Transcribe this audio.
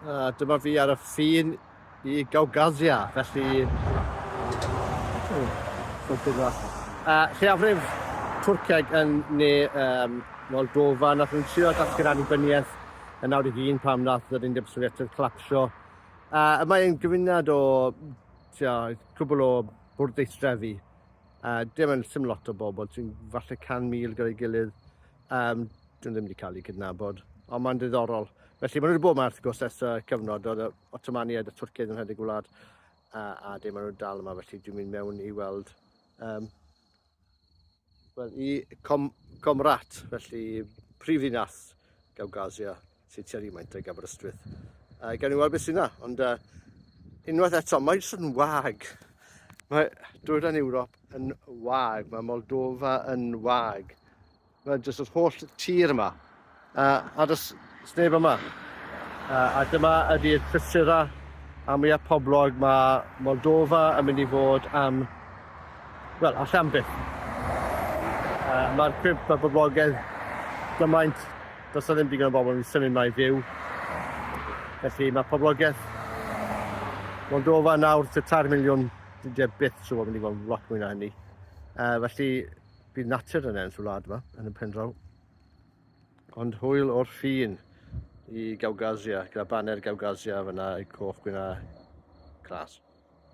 A dyma fi ar y ffin i Gawgazia, felly... A lleiafrif Twrceg yn ne um, Moldova, nath nhw'n trio datgan annibyniaeth yn 91 pam nath yr Undeb Sofietaidd clapsio. A y mae'n gyfynad o tio, cwbl o bwrdeistrefi. A dim yn sym lot o bobl, ti'n falle 100,000 gyda'i gilydd. Um, dwi'n ddim wedi cael ei gydnabod, ond mae'n ddiddorol. Felly, maen nhw wedi bod yma wrth gwrs ers y cyfnod, oedd y Ottomaniaid a Twrciaid yn rhedeg gwlad, a, a dim maen nhw'n dal yma, felly dwi'n mynd mewn i weld um, well, i Com Comrat, felly prifddinas Gawgasia, Ffitio rhyw maint ag Aberystwyth. Uh, gawn ni weld beth sy'n dda, ond uh, unwaith eto, mae jyst yn wag. Mae dwyrain Ewrop yn wag, mae Moldova yn wag. Mae jyst yr holl tir yma, uh, a jyst sneb yma. Uh, a dyma ydy'r prysura a mwya poblog mae Moldova yn mynd i fod am, wel, allan byth. Uh, Mae'r cwymp a boblogaidd gymaint Does 'na ddim digon o bobl yn symud 'ma i fyw. Felly mae poblogaeth Moldova nawr tua tair miliwn, dydy e byth trwy fod yn digon lot mwy na hynny. Uh, felly bydd natur yn ennill y wlad yma, yn y pen draw. Ond hwyl o'r ffin i Gawgasia, gyda baner Gawgasia fyna, coch gwyna glas.